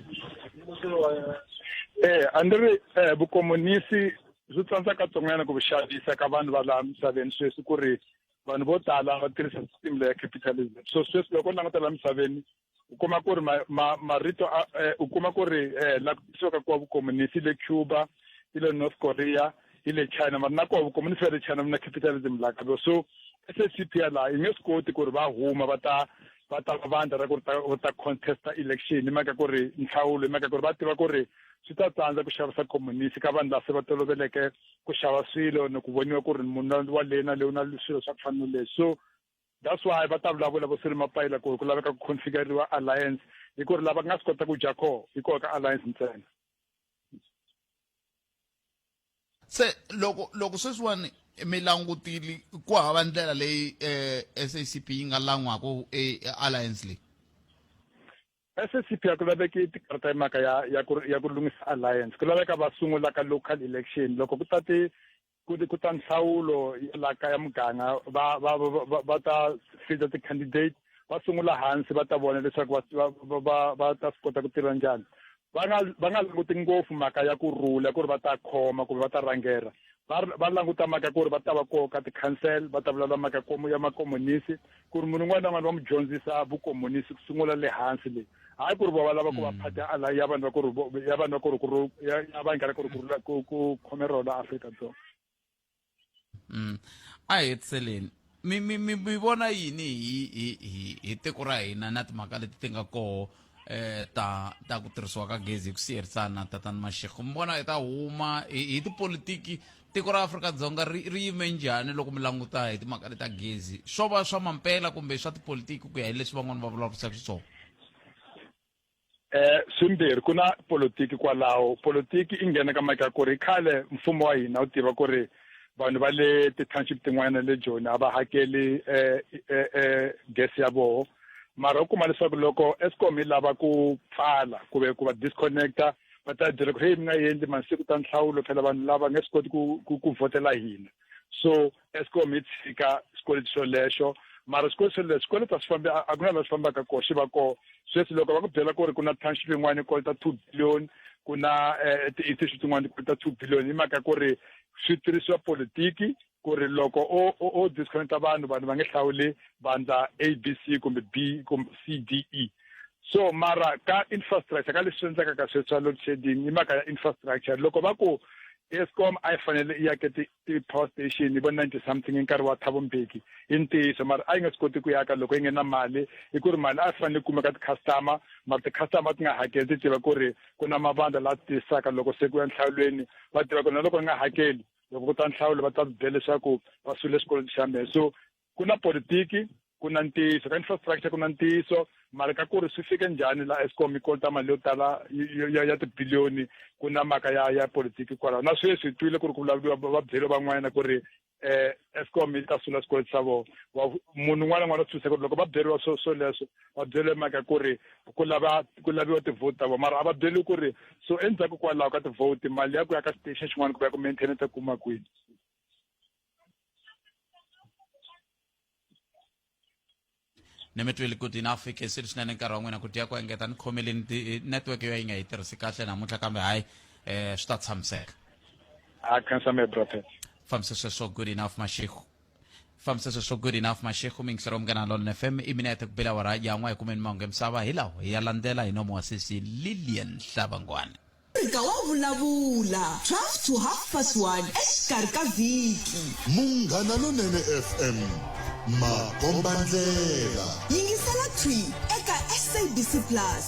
um a ni ri um vukomunisi Swi tsandza katsongonyana ku xavisa ka vanhu va laha misaveni sweswi ku ri vanhu vo tala va tirhisa system leya capitalism so sweswi loko u languta laha misaveni u kuma ku ri marito eh, u kuma ku ri eh, la ku tisiwaka kuwa vukomunisi le cuba hi le north korea hi le china mara na koho vukomunisi va le china na capitalism laha kabo so sscp ya laha yi nge swi koti ku ri va huma va ta va ta vandla ra ku ri va ta contesta election hi mhaka ku ri nhlawulo hi mhaka ku ri va tiva ku ri swi ta tsandza ku xavisa communist ka vanhu lava se va toloveleke ku xava swilo ni ku voniwa ku ri munhu wa le na lewu na swilo swa ku fana no leswi so that's why va ta vulavula vo siri mapayila ku ku laveka ku configuriwa alliance hi ku ri lava nga swi kota ku dya koho hi koho ka alliance ntsena se loko loko sweswiwani mi langutile ku hava ndlela leyi eh, SACP yi nga lan'waka eh, alliance leyi SACP a ku laveki tikarata hi mhaka ya ya ku ya ku lunghisa alliance ku laveka va sungula ka local election loko ku ta ti ku ku ta nhlawulo ya la kaya muganga va va va va ta fita ti-candidate va sungula hansi va ta vona leswaku va va va va ta swi kota ku tirha njhani va nga va nga languti ngopfu mhaka ya ku rhula ku ri va ta khoma kumbe va ta rhangela va va languta mhaka ku ri va ta va koho ka ti-council va ta vulavula mhaka komo ya makomunisi ku ri munhu un'wana na un'wana va n'wi dyondzisa vukomunisi ku sungula le hansi le hayi ku ri va va lava ku va mm. phata ala ya vanhu va ku ri ya vanhu va ku ri ku ri ya vanghana ku ri ku ku khome rona afrika dzonga mm. a hetiseleni mi mi mi mi vona yini hi hi hi hi tiko ra hina na timhaka leti ti nga koho eh ta ta ku tirhisiwa ka gezi hi ku siyerisana tatani mashego mi vona hi ta huma hi tipolitiki tiko ra afrika-dzonga ri ri yime njhani loko mi languta hi timhaka leta gezi swo va swa mampela kumbe swa tipolitiki ku ya hi leswi van'wana va vulavurisaka xiswona eh swimbirhi ku na politiki kwalaho politiki i nghena ka mhaka ku ri khale mfumo wa hina wu tiva ku ri vanhu va le ti-township tin'wana le joni a va hakeli eh, eh, eh, gesi ya voho mara u kuma leswaku loko escom yi lava ku pfala kumbe ku va disconnecta va ta byela ku ri heyi mi nga endli masiku ta nhlawulo phela vanhu lava nge swi koti ku ku ku vhotela hina so escom yi tshika xikweleti xolexo mara xikweleti xolexo xikweleti a swi fambi a ku na laha swi fambaka kona xi va kona sweswi loko va ku byela ku ri ku na township yin'wana yi kolota two billion ku na eh, ti-institute tin'wana ti kolota two billion hi mhaka ku ri swi tirhisiwa politiki ku ri loko o o, o disconnecta vanhu vanhu va nge hlawuli vandla a b c kumbe b kumbe c d e so mara ka infrastructure ka leswi endlaka ka sweswa load shedding i mhaka ya infrastructure loko va ku escom a yi fanele i yake ti-power station yi vo ninety something hi nkarhi wa thabo mbeki i ntiyiso mara a yi nga swi koti ku yaka loko yi nge na mali hi ku ri mali a yi fanele yi kumeka ti-customer mara ti-customer ti nga hakeli ti tiva ku ri ku na mavandla laha ti tiyisaka loko se ku ya nhlawulweni va tiva ku na loko ni nga hakeli loko ku ta nhlawulo va ta bya leswaku va swile xikolweni xa mehe so ku na politiki ku na ntiyiso ka infrastructure ku na ntiyiso mali ka ku ri swi fike njhani la escom yi kolota mali yo tala ya, ya tibiliyoni ku na maka ya ya politiki kwalaho na sweswi hi twile ku ri ku vulavuriwa va byele van'wana ku ri eh escom yi ta sula swikweleti swa vona munhu un'wana na un'wana u tsuse ku ri loko va byeriwa swo swoleswo va byele mhaka ku ri ku lava ku laviwa ti-vote ta vona mara a va byeli ku ri so endzhaku kwalaho ka ti-vote mali ya ku ya ka station xin'wana ku ya ku maintenance a kuma kwini ni mi twile ku dina fike swi ri swinene nkarhi wa n'wina ku tiya ku engeta ni khomeleni eh, network yo yi nga yi tirhisi kahle namuntlha kambe hayi um swi ta tshamiseka a khansame brother fambise sweswo good enough mashego fambisa sweswo swo good enough mashekhu mi ngisero munghana lona fm i mina ya ta ku bela wara yan'wa hi kumeni mahungu ya misava hi lawo hi ya landzela hi nomo wa sesi lilian hlavangwana fika wa vulavula 12 to half past 1 exikarhi ka vhiki munghana lonene fm makombandlela yingisela twi eka sabc plus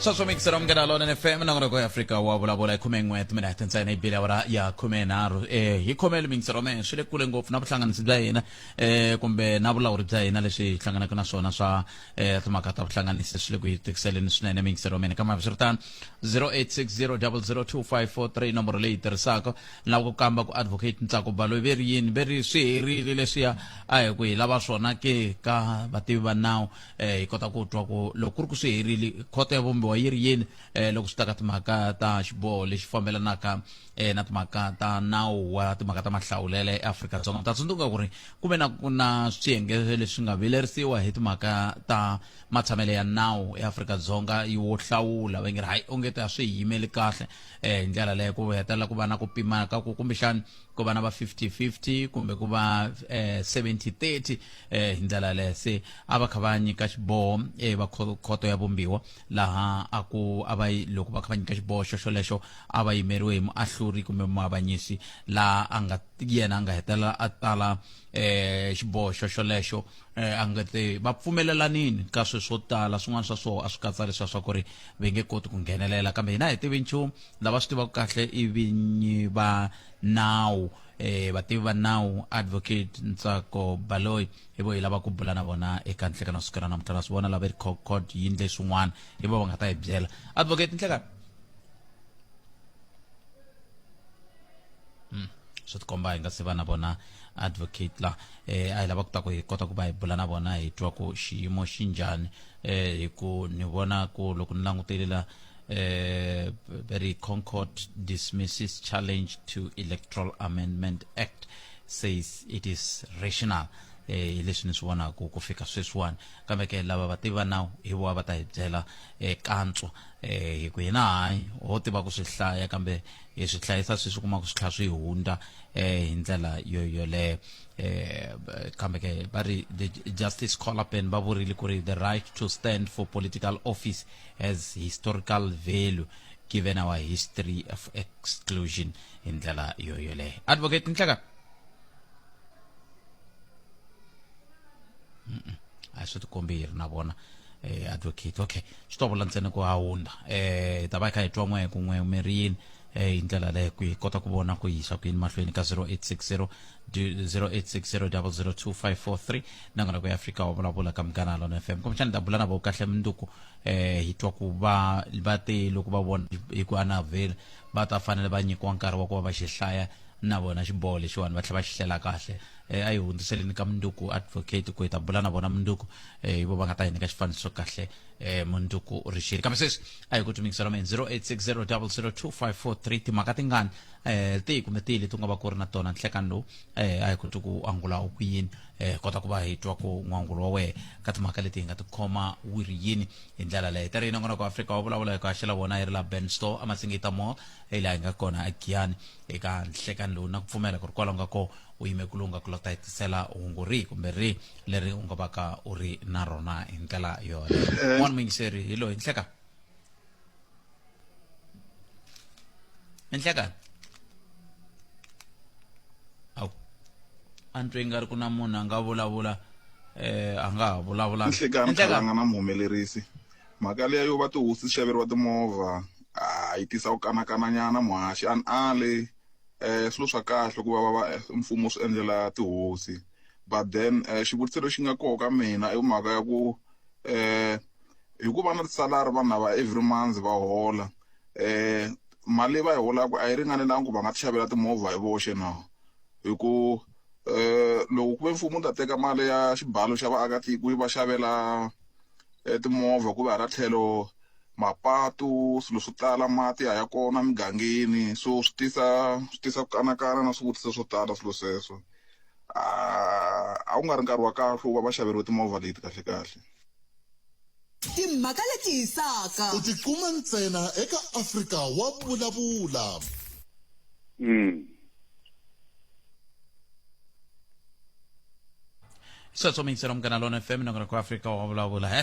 sweswo mikisera munghana lona fm nongonoko ya afrika wa vulavula hi khume n'we timinete hete ntsena yi bile awara ya khume nharhu um hi khomelo mikisero mehe swi le kule ngopfu na vuhlanganisi bya hina um kumbe na vulawuri bya hina leswi hi hlanganaka na swona swa um timhaka ta vuhlanganisi swi le ku hi tikiseleni swinene mikisero mene kambe swi ri tano 0860002543 nomboro leyi tirhisaka lava ku kamba ku advocate ntsako baloyi ve ri yini ve ri swi herile leswiya a hi ku hi lava swona ke ka vativi va nawu eh hi kota ku twa ku loko ku ri ku swi herile khoto ya vumbiwa yi ri yini eh loko swi ta ka timhaka ta xiboho lexi fambelanaka eh na timhaka ta nawu wa timhaka ta mahlawulelo eAfrika-Dzonga ta tsundzuka ku ri ku ve na ku na swiyenge leswi nga vilerisiwa hi timhaka ta matshamelo ya nawu eAfrika-Dzonga wo hlawula va nge ri hayi onge ta swi yimeli kahle eh hi ndlela leyo ku hetelela ku va na ku pimaka ku kumbexani ku va na va 50-50 kumbe ku va eh, 70-30 eh, hi ndlela yaleyo se a va kha va nyika xiboho eh, va kho- khoto ya vumbiwa laha a ku a va yi- loko va kha va nyika xiboho xoxolexo a va yimeriwe hi muahluri kumbe muavanyisi laha a nga yena a nga hetelela a tala eh, xiboho xoxolexo eh, a nga te va pfumelelanini ka swilo swo tala swin'wana swa swona a swi katsa leswiya swa ku ri va nge koti ku nghenelela kambe hina hi tivi nchumu lava swi tivaka kahle i vinyi va nawu eh vativi va nawu advocate ntsako baloyi hi vo hi lava ku bula na vona eka nhlekana siku ra namuntlha na swi vona lava ri court yi ndle swin'wana hi vo va nga ta hi byela advocate nhlekana mm. swi tikomba hi nga se va na vona advocate la eh a hi lava ku ta ku hi kota ku va hi bula na vona hi twa ku xiyimo xi njhani eh hi ku ni vona ku loko ni langutele la Uh, the Concord dismisses challenge to Electoral Amendment Act, says it is rational. Eh, hi leswi ni swi vonaka ku fika sweswiwani kambe ke lava va tiva nawu hi vona va ta hi byela eh, kantswa eh, hi ku hina hayi ho tiva ku swi hlaya kambe hi swi hlayisa swi swi kuma ku swi tlha swi hundza eh, hi ndlela yo yoleyo eh, b- kambe ke va ri the justice colapin va vurile ku ri the right to stand for political office as historical value given our history of exclusion hi ndlela yoyo leyo advocate nhlaka a hi swi tikombi hi ri na vona eh, advocate okay swi to vula ntsena ku hawunda eh hi ta va hi kha hi twa n'we hi ku n'we mirini eh, hi ndlela leyo ku hi kota ku vona ku yisa ku yini mahlweni ka 0860 0860 nangona ku ya fika wa vulavula ka munghana lona fm kumbexana ta bula na vo kahle munduku eh hi twa ku va va te loko va vona hi ku anavhela va ta fanele va nyikiwa nkarhi wa ku va va xi hlaya na vona xiboho lexiwani va tlhela va xi hlela kahle um a yi hundziseleni ka munduku advocate ku hi ta bula na vona munduku um hi vo va nga ta hi nyika xifaniso kahle eh, munduku rishiri kambe sweswi a hi ku tumikisa lomeni 0860002543 timhaka tingani eh, tihi kumbe tihi leti u nga va ku ri na tona nhlekani lowu eh, a hi koti ku angula u ku yini eh, kota ku va hi twa ku n'wangulo wa wena ka timhaka leti hi nga tikhoma wu ri yini hi ndlela leyi tari yi nongona ku afrika wa vulavula hi ku haxela vona yi ri la ben store amasingita mall hi laha hi nga kona a giyani eka nhlekani lowu na ku pfumela ku ri kwala u nga ko u yime ku lowu nga ku lota hi tisela hungu rihi kumbe rihi leri u nga va ka u ri na rona hi ndlela yoleyo eh. n'wana muyingiseri hi loyi nhleka nhleka awu a ni twe nga ri ku na munhu a nga vulavula eh a nga ha vulavula nhleka ni khalanga na muhumelerisi mhaka leya yo va tihosi ti xaveriwa timovha a yi tisa ku kanakananyana muhaxi a ni ale um swilo swa kahle ku va va va mfumo swi endlela tihosi but then eh, xivutiso lexi nga koho ka mina i mhaka ya ku um eh, hi ku va na tisalari vanhu lava every month va hola um mali leyi va yi holaka a yi ringanelangi ku va nga ti xavela timovha hi voxe na hi ku um loko ku ve mfumo wu ta teka mali ya xibalo xa vaakatiko yi va xavela um timovha ku va hala tlhelo mapatu swilo swo tala mati a ya kona mugangeni so swi tisa swi tisa ku kanakana na swivutiso swo tala swilo sweswo a a wu nga ri nkarhi wa kahle wo va va xaveriwe timovha leti kahlekahle timhaka leti hisaka u ti kuma ntsena eka afrika wa vulavula mm. sweswo miyingiselo munghana lona fm nongona ku afrika wa vulavula he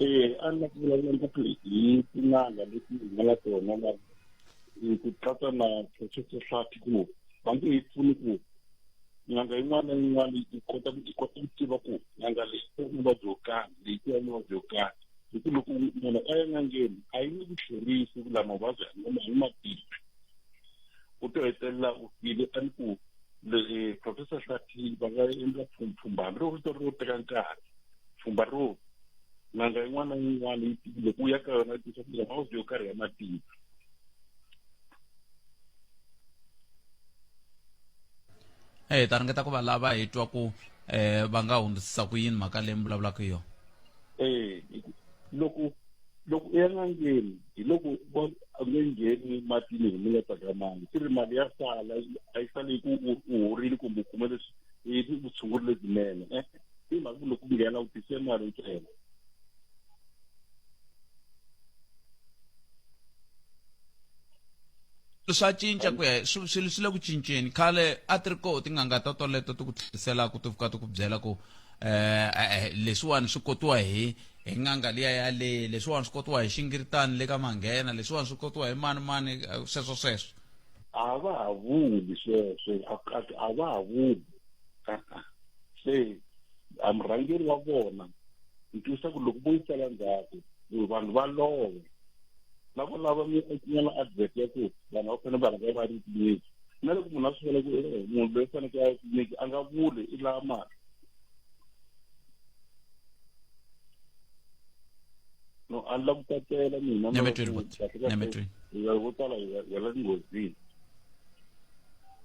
Eh, a ni vulavula ngopfu hi tin'anga leti hi nga na tona na hi ku katsa na professor hlati ku va nge hi pfuni ku n'anga yin'wana na yin'wana yi kota ku yi kota ku tiva ku n'anga leyi ku muvabyi wo karhi leyi ku ya muvabyi wo karhi hi ku loko munhu a ya n'angeni a yi nge ku tlherisi ku lama mavabyi a ngoma hi matimba u to hetelela u file a ni ku professor hlati va nga endla pfhumpfhumbani ro vito ro teka nkarhi pfhumba ro n'anga yin'wana na yin'wana yi tivile ku ya ka yona yi tisa kuza mavabyi yo karhi ya matiko hi ta ringeta ku va lava hi twa ku eh va nga hundzisisa ku yini mhaka leyi mi vulavulaka hi yona eh loko loko i ya n'angeni hi loko a nge ngheni matini hi mi nga tsakamangi swi ri mali ya sala a yi sale ku u horile kumbe u kume leswi i vutshunguri lebyinene eh, i mhaka ku loko u nghena u tise mali ntsena swa cinca ku ya swilo swi le ku cinceni khale a ti ri koho tin'anga ta toleto ti ku tlheriselaka ti fika ti ku byela ku eh, eh, eh leswiwani swi kotiwa hi hi n'anga liya yaleyi leswiwani swi kotiwa hi xingiritani le ka manghena leswiwani swi kotiwa hi mani mani eh, sweswo sweswo a va ha vuli sweswo a va ha vuli se a murhangeri wa vona ni twisa ku loko vo yi tsala ndzhaku vanhu va lova lavo lava nyana advert ya ku vanhu va fanele va rhanga va ri tliliniki na loko munhu a swi vona ku eh, munhu loyi faneke a tliliniki a nga vuli i lava mali no a ni la ku tsakela mina vo tala hi wela ni nghozini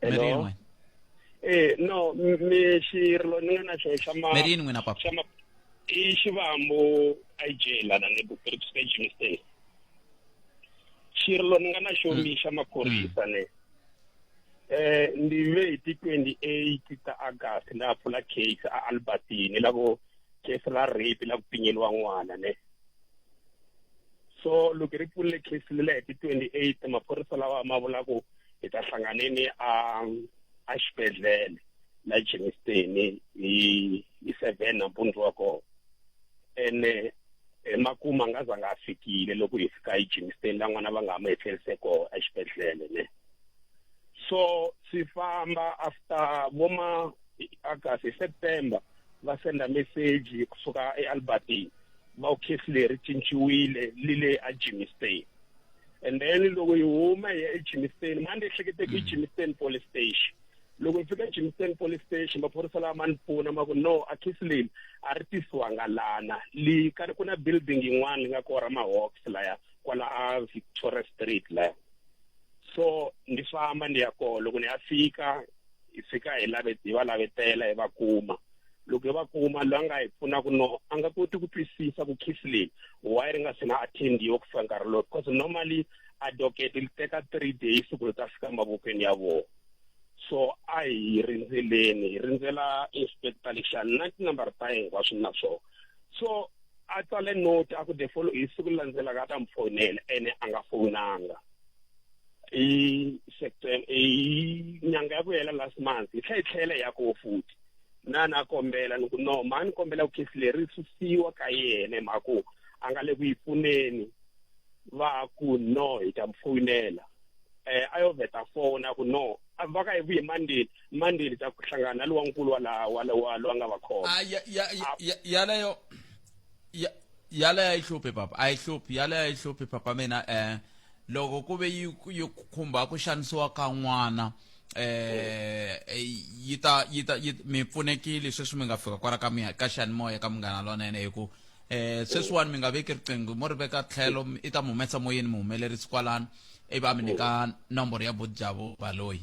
Hello? Eh no mi xirilo ni nga na xo xa ma Merini n'wina papa. xa ma i xivambo IJ lana ni ku ri ku Jimmy State. Xirilo ni nga na xo mi xa maphorisa ne. Eh ndi ve hi ti 28 ta August na pfula case a Albertine la ku case la rape la ku pinyeliwa n'wana ne. so loko hi ri pfulile case le hi ti 28 maphorisa lawa ma vula ku hi ta hlanganeni a a xibedhlele la Germiston hi hi 7 nampundzu wa kona ene emakuma nga za nga fikile loko hi fika hi Germiston la n'wana va nga ma hi tlherise kona exibedhlele ne so swi famba after voma August September va senda message kusuka eAlbertine bokisi leri cinciwile li le eGimiston and then loko yi huma hi ya eGimiston mani ehlekete ku Gimiston police station loko hi fika eGimiston police station maphorisa lawa ma ni pfuna ma ku no a khisi leyi a ri tisiwanga lana li ka ku na building yin'wana yi nga ko ra mahawks laya kwala a Victoria Street laya so ni famba ni ya kona loko ni ya fika hi fika hi lave hi va lavetela hi va kuma loko hi va kuma loyi a nga hi pfunaka no a nga koti ku twisisa ku kiss leyi why ri nga se na attendiwa ku fika nkarhi lowu because normally advocate li teka three days ku ri ta fika mavokweni ya vona so a hi rindzeleni hi rindzela inspector lexani na tinambara ta yena hinkwaswo na swona so a tsale note a ku the follow hi siku landzelaka a ta mi fonela ene a nga fonanga i september i nyanga ya ku hela last month hi tlhe hi tlhela ya ko futhi na na kombela ni ku no ma ni kombela ku khesi leri ri susiwa ka yena hi mhaka ku a nga le ku yi pfuneni va ku no hi ta mi foyinela eh a yo vheta fona ku no a va ka hi vuye mandeni mandeni ta ku hlangana na lowankulu wa laha wa wa lowa nga va khoma Ah, ya- ya- ya- ya- yaleyo ya- yaleyo a yi hluphi papa a yi hluphi yaleyo a yi hluphi papa mina um loko ku ve yi yi khumba ku xanisiwa ka n'wana eh, eh yi ta yi ta mi pfunekile sweswi mi nga fika kwala ka mina ka xiyanimoya ka munghana lonene hi ku eh sweswiwani mi nga veki riqingho mo ri veka tlhelo i ta mi humesa moyeni mi humelerisi kwalano i va mi nyika nomboro ya bodjavu baloyi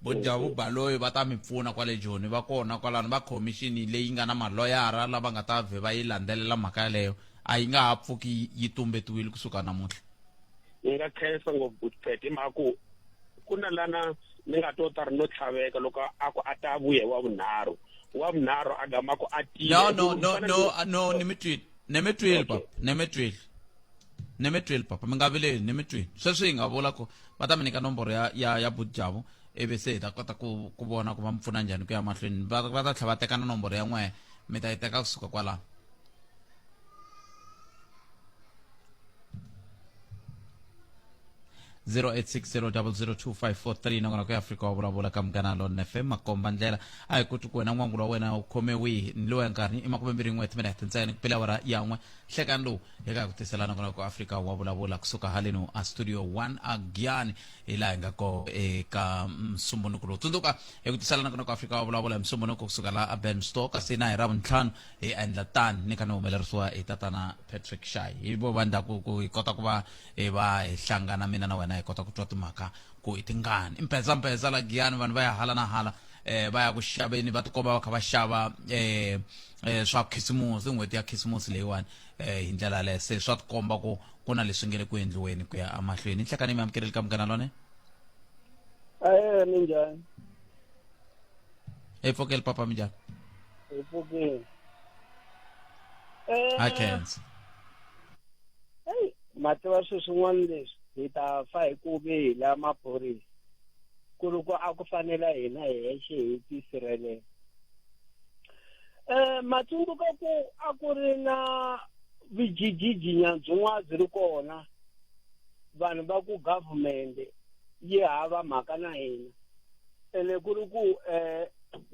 bodjavu baloyi va ta mi pfuna kwale joni va kona kwalano va khomixini leyi nga na maloyara lava nga ta vhe va yi landzelela mhaka yaleyo a yi nga ha pfuki yi tumbetiwile kusuka namuntlha ni nga khensa ngopfu good pet hi mhaka ku ku na lana ni nga to ta ri no tlhaveka loko a ku a ta vuye wa vunharhu wa vunharhu a gama ku a tile no no no no no ni mi twile ni mi twile papa ni mi twile ni mi twile papa mi nga vileli ni mi twile sweswi hi nga vula ku va ta mi nyika nomboro ya ya ya budjavo ivi se hi ta kota ku ku vona ku va mi pfuna njhani ku ya mahlweni va va ta tlhela va teka na nomboro ya n'wehe mi ta yi teka kusuka kwalaho 0860002543 nongona ku afrika wa vulavula ka munghana lona fm makomba ndlela a hi kuti ku wena n'wangulo wa wena u khome wihi ni lowu ya nkarhi i makume mbirhi n'we timinete ntsena ku pela wara yan'we hlekani lowu hi ka ku tisela nongona ku afrika wa vulavula kusuka haleni a studio 1 agiani hi laha hi nga ko eka msumbunuku lowu tsundzuka hi ku tisela nongona ku afrika wa vulavula hi msumbunuku kusuka laha a ben store kasi na hi ravuntlhanu hi endla tani ni kha ni humelerisiwa hi tatana patrick shay hi vo va ndhaku ku hi kota ku va hi va hi hlangana mina na wena hi kota ku twa timhaka ku i tingani i mphetsamphetsa la giyani vanhu va ya hala na hala eh va ya ku xaveni va tikomba va kha va xava eh eh swa khisimusi n'hweti ya khisimusi leyiwani eh hi ndlela yaleyo se swa tikomba ku ku na leswi nge le ku endliweni ku ya emahlweni nhlekani mi amukeleli ka munghana lone eh minjhani hi pfokeli papa minjhani Ebukeni. Eh, I can't. Hey, ma tiva swilo swin'wana leswi hi ta fa hi ku ve hi la maphorisa ku ri ku a ku fanela hina hi hexe hi tisirhelela um ma tsundzuka ku a ku ri na vijijijinya byin'wana byi ri kona vanhu va ku government yi hava mhaka na hina ene ku ri ku eh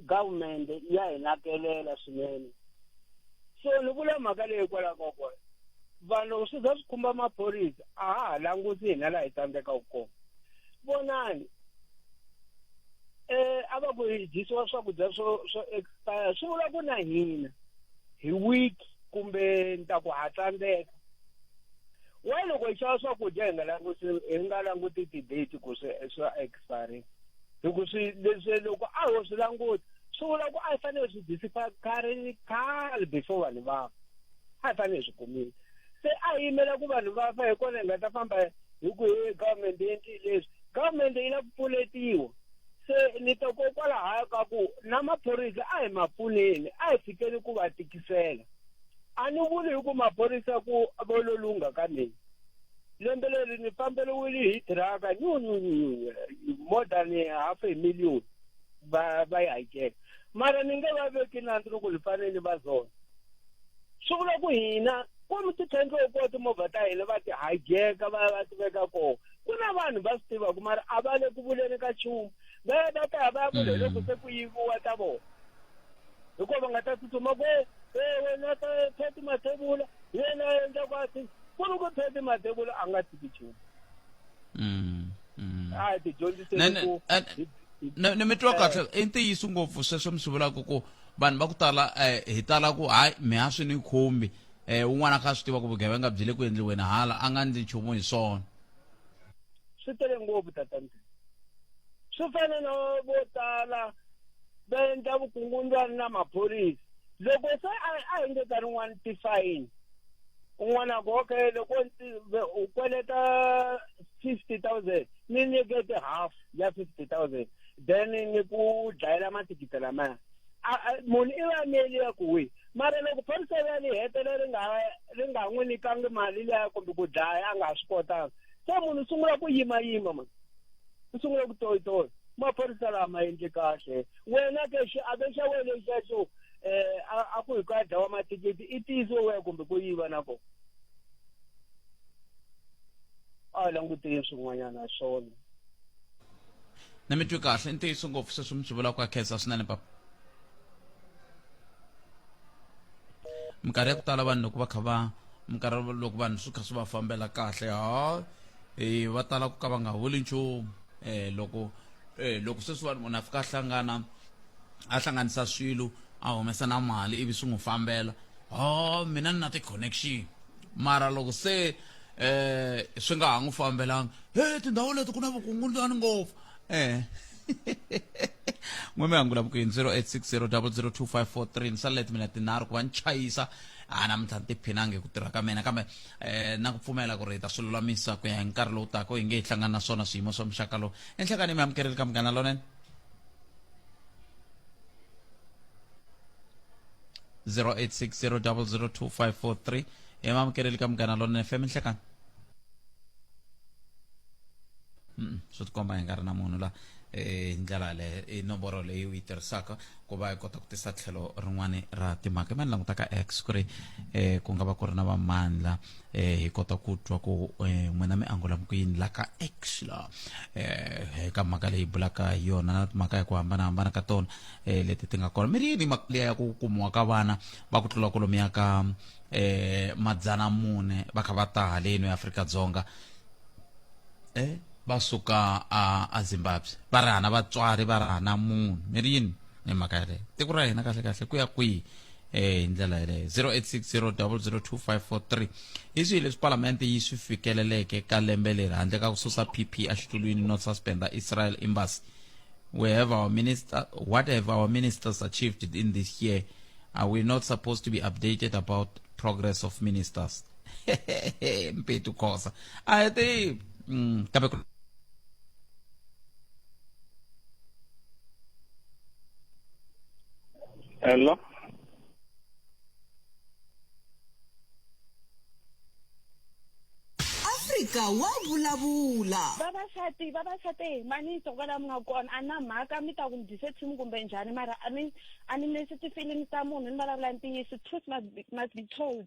government ya hi nakelela swinene so ni vula mhaka leyi hikwalaho ka kona vanhu swi za swi khumba maphorisa a ha ha languti hina laha hi tsandzekaka kona vonani eh a va ku hi dyisiwa swakudya swo swo expire swi vula ku na hina hi week kumbe ni ta ku ha tsandzeka wa loko hi xava swakudya hi nga languti hi nga languti ti-date ku swi swa sorry loko swi leswi loko a ho swi languta swi vula ku a yi fanele swi disipha khale khale before vanhu va a yi fanele swi kumile se a yi yimela ku vanhu va fa hi kona hi nga ta famba hi ku he government yendli leswi government yi la ku pfuletiwa se ni ta kokwalaho ka ku na maphorisa a hi ma pfuneni a hi fikeli ku va tikisela a ni vuli hi ku maphorisa ku vololunga ka mina lembe leri ni famberiwile hi tiraka nyunyunyunyu more than half a million va va yi hakela mara ni nge va veki nandzi loko ni fanele ni va zona swi vula ku hina kumbe tithendlo ko timovha ta hina va ti hajeka va va ti veka kona ku na vanhu va swi tivaka mara a va le ku vuleni ka nchumu va ya va ta ya va ya vula hi loko se ku yiviwa ta vona hikuva va nga ta tsutsuma ku ewe na ta thati mathevula yena a endla ku a ti ku ri ku pheti madebulo a nga tiki nchumu Mm, mm. a hi tidyondziseni Ne- ne- ku eh, hi- hi- ne ne mi twa kahle i ntiyiso ngopfu sweswo mi swi vulaka ku vanhu va ku tala eh, hi tala ku hayi mi ha swi ni khumbi um un'wana a kha a swi tiva ku vugevenga byi le ku endliweni hala a nga ndli nchumu hi swona swi tele ngopfu tatante swi fana na vo tala va endla vukungundzwani na maphorisa loko se a a engeta rin'wana tifayini un'wana a ku okay loko u kweleta fifty thousand ni nyikete half ya fifty thousand then ni ku dlayela mathikithi lamaya munhu i va meli ya ku wi mara loko phorisa ya li hetela ri nga ri nga n'wi nikangi mali liya kumbe ku dlaya a nga ha swi kotanga se munhu u sungula ku yimayima mani u sungula ku toyitoya maphorisa lama endli kahle wena ke xiave xa wena xexo um eh, a ku hi ku ya dlawa mathikithi i tiyiso weya kumbe ku yiva na kona a hi languteni swin'wanyana swona na mi twi kahle i ntiyiso ngopfu sweswi mi swi vulaka ka khensa swinene papa minkarhi ya ku tala vanhu loko va kha va minkarhi loko vanhu swi kha swi va fambela kahle ha e va tala ku ka va nga holi nchumu eh loko eh loko sweswi vanhu munhu a fika a hlangana a hlanganisa swilo a humesa na mali ivi swi n'wi fambela oh mina ni na ti-connection mara loko se eh swi nga ha n'wi fambelanga he tindhawu leti ku na vukungundzwani ngopfu eh n'we mi angula vukuyini 0860002543 ni salele timinete tinharhu ku va ni chayisa a namuntlha ni tiphinangi hi ku tirha ka mina kambe eh na ku pfumela ku ri hi ta swi lulamisa ku ya hi nkarhi lowu taka hi nge hi hlangana na swona swiyimo swa muxaka lowu enhlekani mi amukerile ka munghana lonene 0860002543 hi mi amukerile ka munghana lonene fm enhlekani swi tikomba hi nga ri na munhu la eh, hi ndlela yaleyo i nomboro leyi u yi tirhisaka ku va hi kota ku tisa tlhelo rin'wana ra timhaka ma ni langutaka x ku ri um ku nga va ku ri na vamandla um hi kota ku twa ku um n'wina mi angulamu ku yini la ka x la um ka mhaka leyi bulaka hi yona na timhaka hi ku hambanahambana ka tona um leti ti nga kona mi ri yini mhaka liya ya ku kumiwa ka vana va ku tlula kolomi ya ka um madzana mune va kha va ta haleni eafrika dzonga um va suka a a zimbabwe va ri hana vatswari va ri hana munhu mi ri yini ni mhaka yaleyo tiko ra hina kahle kahle ku ya kwihi um hi ndlela yeleyo 0860002543 hi swihi leswi palamende yi swi fikeleleke ka lembe leri handle ka ku susa pp exitulwini no suspenda israel embassy we have our minister what have our ministers achieved in this year are we not supposed to be updated about progress of ministers mpitu khosa a hi ti mm, kambe ku- Hello. afrika wa vulavula vavasati vavasati hi maniso kwala mi nga kona a na mhaka mi ta ku mi dyise team kumbe njhani mara a ni a ni nesi ti-feeling ta munhu ni vulavula ntiyiso truth must be, must be told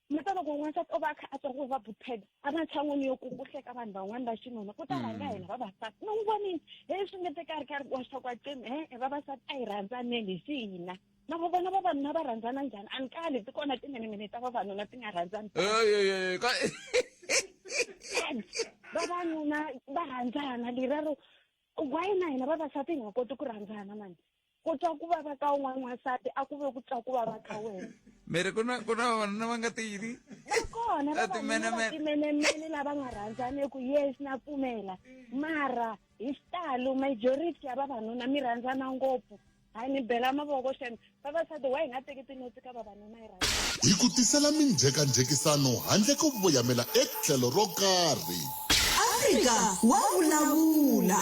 mi ta loko n'wansati o va a kha a twa ku va bupheda a va tshan'wini yo kukuhleka vanhu van'wani va xinuna ku ta mm. rhanga hina vavasati mi n'wi vonini he swi nge te ka ri ka ri wa swa ku aceni he e vavasati a hi rhandzaneni hi xihina na vo vona vavanuna va rhandzana njhani a ni kali ti kona timinimini ta vavanuna ti nga rhandzani vavanuna va rhandzana lerero why na hina vavasati hi nga koti ku rhandzana mani ku twa ku vava ka un'wana n'wansati a ku ve ku twa ku vava ka wena miri ku na ku na vavanuna va nga tiyini kona vatimenemene lava nga rhandzaniku yes na pfumela mara hi xitalo majority ya vavanuna mi rhandzana ngopfu hayi ni bela mavoko xana vavasati wa hi nga teki tinotsi ka vavanuna yi rhandza hi ku tisela minjhekanjhekisano handle ko voyamela etlhelo ro karhi afrika wa vulavula